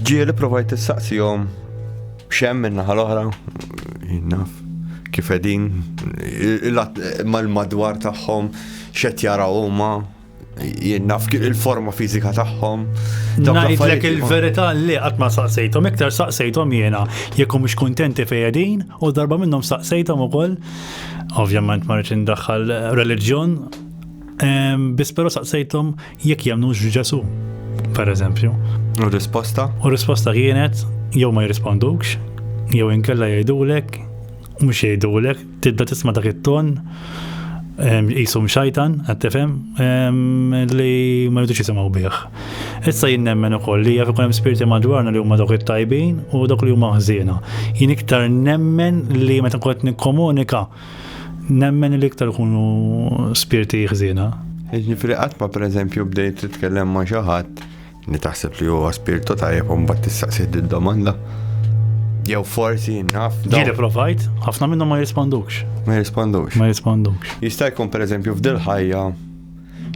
Speaker 1: Ġieli provajt tistaqsihom Xem min-naħa l-oħra, jinnaf, kif edin, mal-madwar tagħhom, xet jaraw huma, jinnaf il-forma fizika tagħhom. Ngħidlek il-verità li qatt ma saqsejthom, iktar saqsejthom jiena jekk mhux kuntenti fejedin u darba minnhom saqsejthom ukoll. Ovvjament ma rridx indaħħal reliġjon, biss però saqsejthom Jekk jemnux f'Ġesu, per eżempju. U risposta? U risposta kienet jew ma jirrispondux, jew inkella jgħidulek, mhux jgħidulek, tibda tisma' dak it-ton jisum xajtan, għattifem, li ma jridux jisimaw bieħ. Issa jien nemmen ukoll li jaf ikun hemm spirti madwarna li huma dawk it-tajbin u dawk li huma ħżiena. Jien iktar nemmen li meta kont nikkomunika Nemmen li iktar kunu spirti ħżiena. Ġifieri qatt ma pereżempju bdejt titkellem ma' xi ħadd li taħseb li huwa spirtu tajjeb u mbagħad tistaqsi d-domanda. Jew forsi naf. Jiena provajt, ħafna minnhom ma jirrispondux. Ma jirrispondux. Ma jirrispondux. Jista' jkun pereżempju f'dil ħajja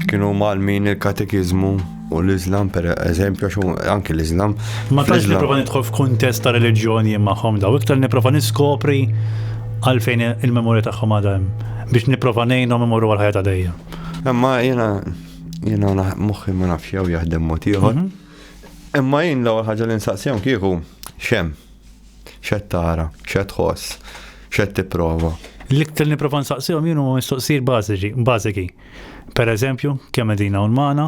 Speaker 1: Kienu malmin il-katekiżmu u l-Iżlam, per eżempju, għax hu- anki l-Iżlam. Ma tantx fl-Iżlam- niprofa nidħol f'kuntest ta' reliġjoni magħhom daw, iktar niprofa niskopri għalfejn il-memorja tagħhom għadha hemm biex niprofa ngħinhom imorru għal ħajja ta' dejjem. Imma jiena jiena na- moħħi ma nafx jew jaħdem mod ieħor. Mhm. Imma jien l-ewwel ħaġa li nsaqsihom kieku xem. X'qed tara, x'qed tħoss, x'qed tipprova. L-iktar li nipprova nsaqsihom jien huma mistoqsijiet bażiċi, bażiki. Pereżempju, kemm qegħdin hawn magħna,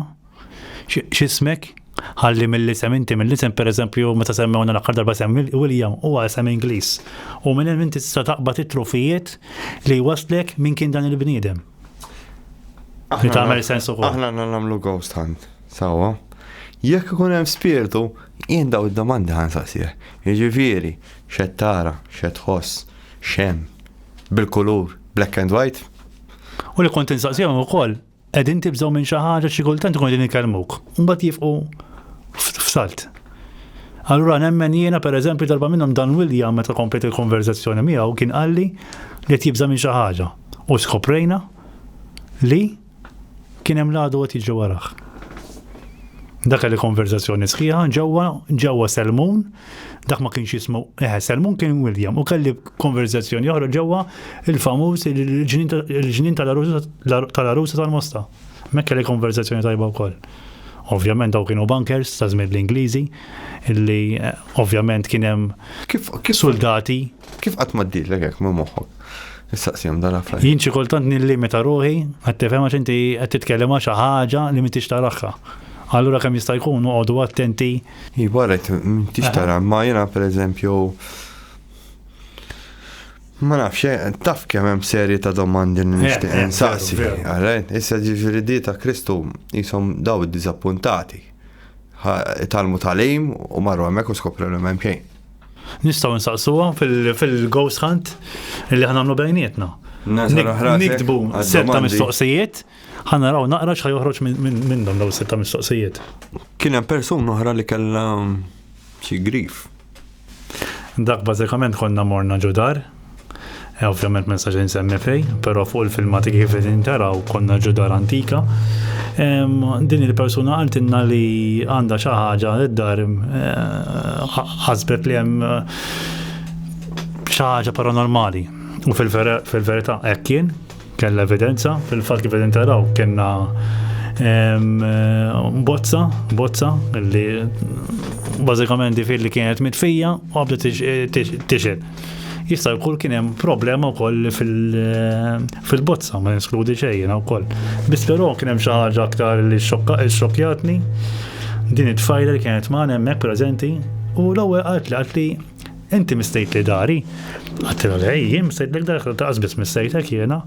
Speaker 1: x'ismek, ħalli mill-isem inti mill-isem pereżempju meta semmewna l-aħħar darba sem William huwa isem Ingliż. U minn hemm inti tista' taqbad it-trufijiet li waslek minn kien dan il-bniedem. Li tagħmel sens ukoll. Aħna nagħmlu ghost hunt, sawa. Jekk ikun hemm spirtu, Jien dawn id-domandi ħa nsaqsih. Jiġifieri, x'qed tara, x'qed tħoss, x'hemm, bil-kulur, black and white? U li kont insaqsihom ukoll, qegħdin tibżgħu minn xi ħaġa xi kultant ikunu qegħdin ikellmuk, u mbagħad jifqu f'salt. Allura nemmen jiena pereżempju darba minnhom Dan William meta komplejt il-konverżazzjoni miegħu kien qalli li qed jibża' minn xi ħaġa u skoprejna li Kien hemm l-għadu qed jiġri warah. Dak li konverzazzjoni sħiħa ġewwa ġewwa Selmun, dak ma kienx jismu, eh, Selmun kien William, u kelli konverzazzjoni oħra ġewwa il-famuż il-ġnien tal-arusa tal-mosta. Mek kelli konverzazzjoni tajba wkoll. Ovvjament daw kienu bankers ta' żmien l-Ingliżi, illi eh, ovvjament kien hemm kif soldati. Kif qatt ma ddilek hekk ma' moħħok? Nistaqsihom dan affarijiet. Jien xi kultant nillimita ruħi qed tifhem għax inti qed titkellem għal xi ħaġa li m'intix taraħħa. Allura kemm jista' jkun noqogħdu attenti. Iva rajt m'intix tara, ma jiena pereżempju Ma nafx, eh, taf kemm hemm serje ta' domandi li eh, nixtieq eh, insaqsi. Għarajt, issa ġifieri di ta' Kristu jisom daw id-diżappuntati. Talmu talim u marru hemmhekk u skopru l-hemm xejn. Nistaw nsaqsuhom fil-ghost hunt li ħanamlu bejnietna. Niktbu setta mistoqsijiet, ħanna raw naqra xħaj joħroġ minnhom daw setta mistoqsijiet. Kien hemm persun oħra li kellha mm, xi grif. Dak bażikament konna morna ġudar, E ovvjament ma nistax insemmi fej, però fuq il-filmati kif qegħdin taraw konna ġu dar antika. Din il-persuna qaltilna li għandha xi ħaġa id-dar eh, ħasbet li hemm eh, xi ħaġa paranormali. U fil-verità hekk kien, Kellna evidenza, fil-fatt kif qegħdin taraw kellna bozza, bozza li bażikament fil li kienet mitfija u għabda tixel. Jista' jkun kien hemm problema wkoll fil-bozza ma neskludi xejn wkoll. Biss però kien hemm xi ħaġa aktar li xokkjatni din it-tfajla li kienet magħna hemmhekk preżenti u l-ewwel qaltli qaltli Inti mistejtli dari? Għattilha le, jien mistejtlek darek laqqas biss mistejtek jiena.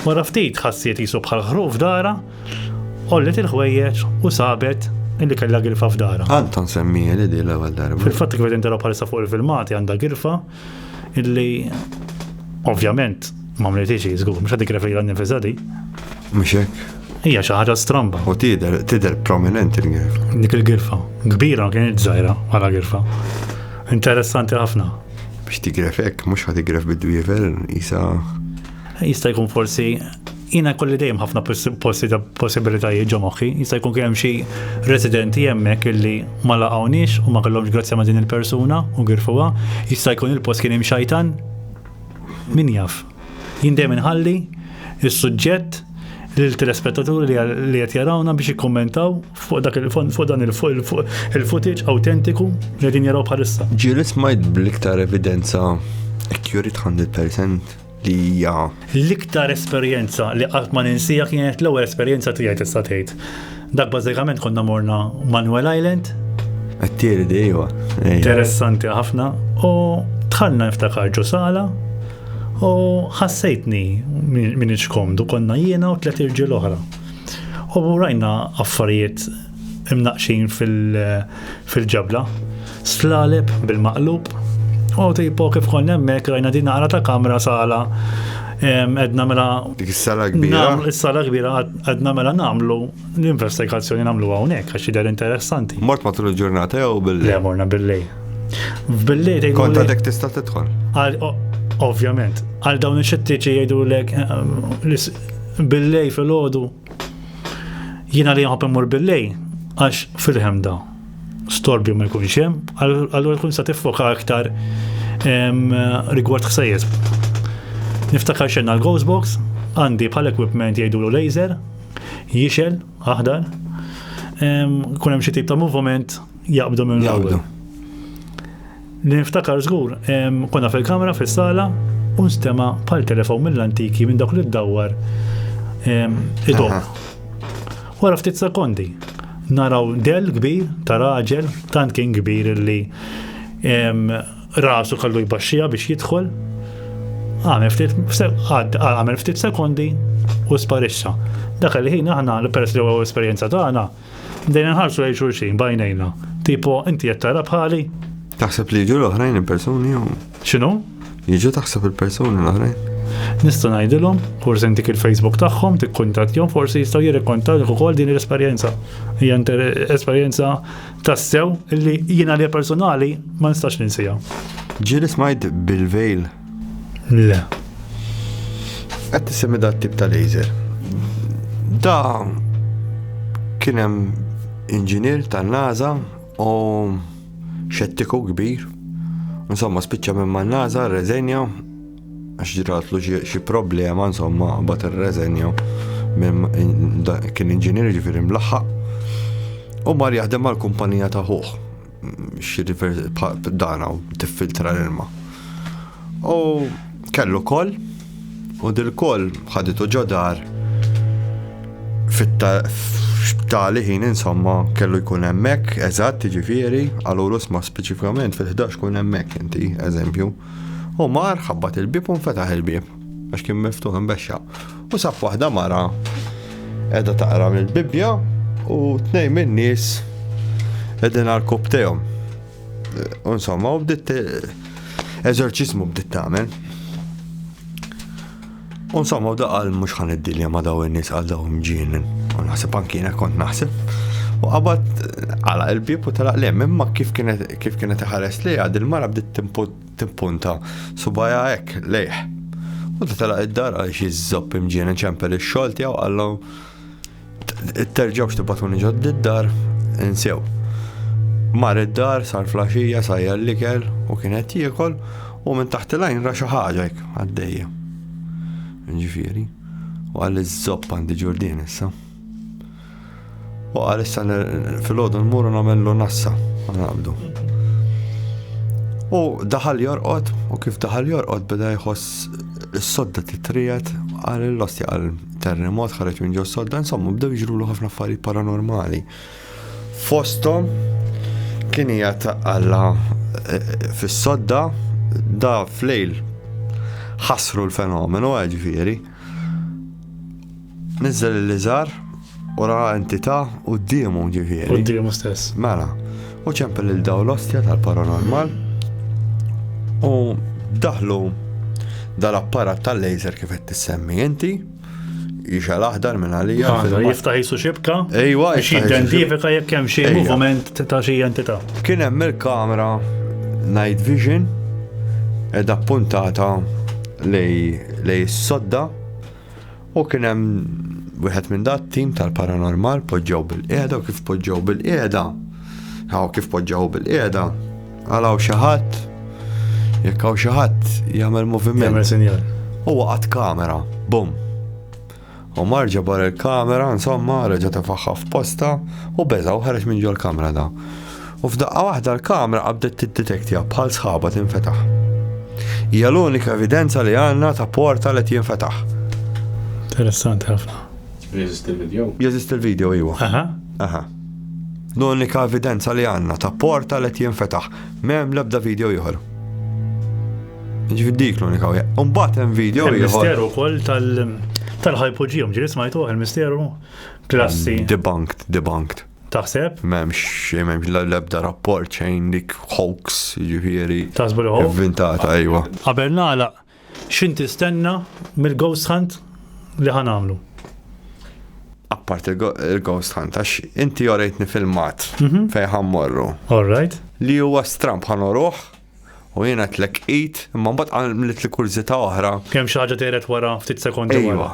Speaker 1: Wara ftit ħassiet qisu bħal ħruq f'darha, għollet il-ħwejjeġ u sabet illi kellha girfa f'darha. Għandha nsemmija li di l-ewwel darba. Fil-fatt kif qed intilgħu bħalissa fuq il-filmati għandha girfa illi ovvjament Ma mritix hi żgur, mhux qed tikreferila nnifisha di. Mhux hekk? Hija xi ħaġa stramba. U tidher tidher prominenti l-girfa. Dik il-girfa. Kbira ma kienx żgħira bħala girfa. Interessanti ħafna. Biex tigref hekk, mhux ħa tigref bid-dwiever, isa. Jista' jkun forsi jina kolli dejjem ħafna possibilitajiet ġo moħħi, jista' jkun kien hemm xi residenti hemmhekk illi ma laqgħuniex u ma kellhomx grazzja ma' din il-persuna u girfuha, jista' jkun il-post kien hemm xajtan Min jaf? Jien dejjem inħalli is-suġġett lil telespettaturi li qed jarawna biex jikkummentaw fuq dak fuq dan il-footage awtentiku li qegħdin jaraw bħalissa. Ġieli smajt bl-iktar evidenza accurate 100% li hija. L-iktar esperjenza li qatt ma ninsija kienet l-ewwel esperjenza tiegħi tista' tgħid. Dak bażikament konna morna Manuel Island. Għattieri di, iwa. Interessanti ħafna. U tħanna niftakar ġo sala u ħassejtni minn iċkomdu konna jiena u tlet irġiel oħra. U rajna affarijiet imnaqxin fil-ġabla. Slaleb bil-maqlub. U tipo kif konna hemmhekk rajna din għara ta' kamra sala edna mela. Dik is-sala kbira. Is-sala kbira edna mela nagħmlu l-investigazzjoni nagħmlu hawnhekk għax jidher interessanti. Mort matul il-ġurnata jew bil-lejl. Le morna bil-lejl. Bil-lejl tgħidu. Kont għadek tista' tidħol. Ovvjament. Għal dawn ix-xittiċi jgħidulek eh, bil-lejl fil-ħodu Jiena li nħobb immur bil-lej għax fil-ħemda storbju ma jkunx hemm, allura tkun sa tiffoka aktar rigward ħsejjes. Niftakar xenna l-Ghost Box, għandi bħal equipment jgħidulu laser, jixel, aħdar, kun hemm xi tip ta' moviment jaqbdu minn l Li niftakar żgur, konna fil-kamra fis-sala u nstema' bħal telefon mill-antiki minn dawk li ddawwar idom. Wara ftit sekondi, naraw del kbir ta' raġel, tant kien kbir li rasu kallu jbaxxija biex jidħol, għamel ftit sekondi u sparixxa. Dak il-ħin aħna, peress li huwa esperjenza tagħna, Bdejna nħarsu lejn xulxin bajnejna. Tipo, inti qed tara bħali? Taħseb li jiġu l-oħrajn il-persuni jew? X'inhu? Jiġu taħseb il-persuni l-oħrajn. Nista' ngħidilhom, forsi intik il-Facebook tagħhom, tikkuntattjhom, forsi jistgħu jirrikontalk ukoll din l-esperjenza. Hija esperjenza tassew li jiena li personali ma nistax ninsija. Ġieli smajt bil-vejl Le. Qed tisemmi dat tip ta' laser. Da kien hemm inġinier tan-NASA u xettiku kbir. Insomma, spiċċa minn man NASA reżenja għax ġratlu xi problema, insomma, bat ir-reżenja kien inġinier ġifieri mlaħħaq u mar jaħdem mal-kumpanija ta' ħuħ. xi dana u tiffiltra l-ilma. U kellu kol, u dil-kol ħaditu ġodar fit-tali ħin insomma kellu jkun hemmhekk eżatt ġifieri għalu rusma speċifikament fil-11 kun hemmhekk inti eżempju. U mar ħabbat il-bib u nfetaħ il-bib. Għax kien miftuħ imbexxa. U saf waħda mara edha taqra mill-Bibbja u tnej minn nies edin għal kop tejhom. Insomma, u bdiet eżorċizmu bdiet tagħmel. Insomma, u daqal mhux ħan id-dilja ma daw in-nies għal daw mġinin. U naħseb anki kont naħseb. U qabad għala il-bib u talaq lem, imma kif kienet ħares li għad il-mara bdiet timput Tippunta subajha hekk lejh. U ta' telaq id-dar għal xi żopp imġieni ċempel ix-xogħol tiegħu qallu terġgħux tibatuni ġod id-dar insew. Mar id-dar sar flaxija sajja l-ikel u kien qed jiekol u minn taħt il-għajn ra xi ħaġa hekk għaddejja. Ġifieri, u għal iż-żopp għandi ġurdien issa. U qal issa fil-ħodu nmuru nagħmlu nassa naqbdu. U daħal jorqod, u kif daħal jorqod beda jħoss s-sodda titrijet għal l-osti għal terremot ħareġ minn ġo sodda, insomma bdew jġrulu ħafna affarijiet paranormali. Fostom kien hija għalla eh, fis-sodda da flejl ħasru l-fenomenu għal ġviri. Nizzel il-lizar u ra entità u d-diemu ġifieri. U d-diemu stess. Mela, u ċempel il-daw l-ostja tal-paranormal u daħlu dal-apparat tal-laser kif qed tissemmi inti jixal aħdar minn għalija. Jiftaħ jisu xibka. Ejwa, identifika jekk hemm xi moviment ta' xi entità. Kien hemm il-kamera night vision edha puntata lej is-sodda u kien hemm wieħed minn dat tim tal-paranormal poġġew bil-qiegħda u kif poġġew bil-qiegħda. Hawn kif poġġew bil-qiegħda għalaw xi ħadd jekk hawn xi ħadd jagħmel moviment. Jagħmel sinjal. Huwa qatt kamera, bum. U mar ġo bar il-kamera, insomma, reġa' tefaħħa f'posta u beża' u ħareġ minn ġol-kamra da. U f'daqqa waħda l-kamra qabdet tiddetektja bħal sħaba tinfetaħ. Hija l-unika evidenza li għandna ta' porta li jinfetaħ. Interessanti ħafna. Jeżisti l-video? Jeżisti l-video, iwa. Aha. Aha. L-unika evidenza li għandna ta' porta li jinfetaħ. M'hemm l-ebda video ieħor. Ġifieri dik l-unika wieħed. U mbagħad hemm video ieħor. Il-misteru wkoll tal-ħajpoġihom ġiri smajtu il-misteru klassi. Mm, debunked, debunked. Taħseb? M'hemmx m'hemmx l-ebda rapport xejn dik hoax ġifieri. Taħsbu li hoax? Inventata, ejwa. Qabel nagħlaq X'int tistenna mill-ghost hunt li ħa nagħmlu? Appart il-ghost hunt, għax inti orejtni filmat mhm. fejn ħa mmorru. All right. Li huwa stramp ħa noruħ u jiena tlek id, imma mbagħad għamlet li kurżità oħra. Kemm xi ħaġa teret wara ftit sekondi wara. Iva.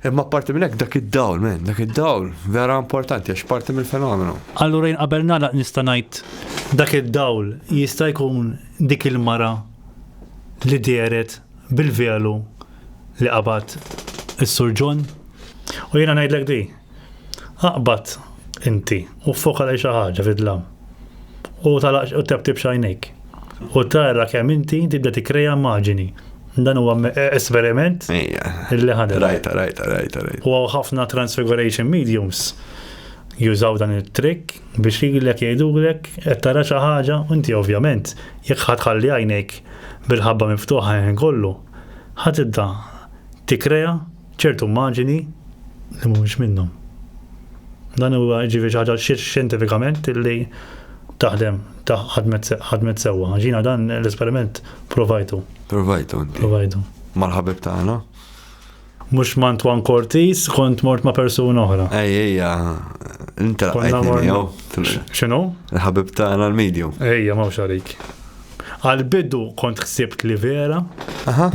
Speaker 1: Imma apparti minn hekk dak id-dawl, man, dak id-dawl vera importanti għax parti mill-fenomenu. Allura jien qabel nagħlaq nista' ngħid dak id-dawl jista' jkun dik il-mara li dehret bil-velu li qabad is-Sur John? U jiena ngħidlek di, aqbad inti u ffoka lejn xi ħaġa fid-dlam. U tagħlaq u tebtibx għajnejk. U tara kemm inti tibda tikkreja immaġini. Dan huwa esperiment li ħadem. Rajta, rajta, rajta, rajta. U ħafna transfiguration mediums jużaw dan it-trick biex jgħidlek jgħidulek qed tara xi ħaġa u inti ovvjament jekk ħadd ħalli għajnejk bil-ħabba miftuħa ħin kollu ħadd idda tikkrea ċertu immaġini li mhumiex minnhom. Dan huwa jiġifieri xi ħaġa xjentifikament illi taħdem ħadmet sewwa. Ġina dan l-esperiment provajtu. Provajtu inti. Provajtu. Mal-ħabib tagħna. Mhux ma' Antoine Cortis, kont mort ma' persuna oħra. Ej, ejja, inti X'inhu? Ħabib tagħna l-medium. Ejja, ma' għalik. Għal-bidu kont ħsibt li vera,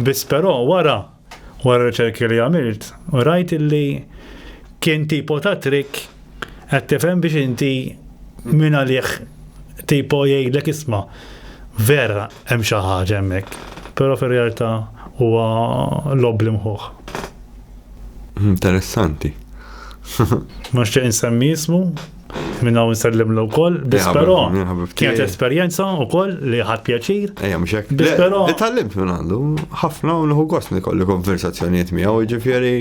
Speaker 1: biss però wara Wara r-riċerki li għamilt, rajt illi kien tipo ta' trick qed tifhem biex inti min għalih tipo jgħidlek isma' vera hemm xi ħaġa hemmhekk, però fir-realtà huwa logħob bl-imħuħ. Interessanti. Ma nixtieq insemmi ismu, Minna u nsellimlu kol, dispero. Kienet esperienza u kol li ħad pjaċir. Ejja, mxek. Dispero. Itallimt minn għandu, ħafna u nħu għost nikolli konversazzjoniet miegħu ġifieri.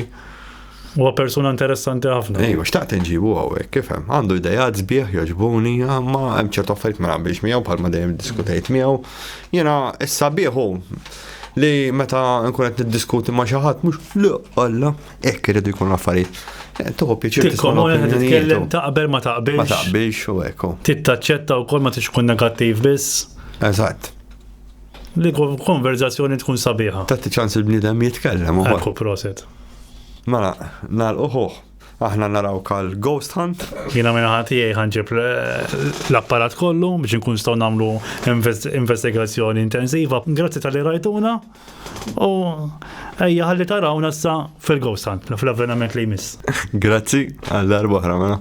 Speaker 1: U persuna interessanti ħafna. Ejja, xtaqt nġibu għawek, kifem. Għandu idejat zbieħ joġbuni, ma hemm ċertu affarijiet ma naqbilx miegħu bħalma dejjem diskutejt miegħu. Jiena issa bieħu li meta nkun qed niddiskuti ma' xi ħadd mhux li Alla Ekk irridu jkunu affarijiet. Eh, Tuħu pieċir tikkomuna titkellem taqbel ma taqbilx. Ma taqbilx u ekku. Tittaċċetta u kol ma tix kun negattiv biss. Eżatt. Li konverzazzjoni tkun sabiħa. Tatti ċans il-bnidem jitkellem u Ekku proset. Mela, nal uħuħ. Aħna naraw kal Ghost Hunt. Jina minna ħati ħanġib l-apparat kollu biex nkun staw namlu investigazjoni intensiva. Grazzi tal-li rajtuna. U ejja ħalli tarawna sa fil-Gowsan, fl-avvenament li jmiss. Grazzi, għal darba oħra mela.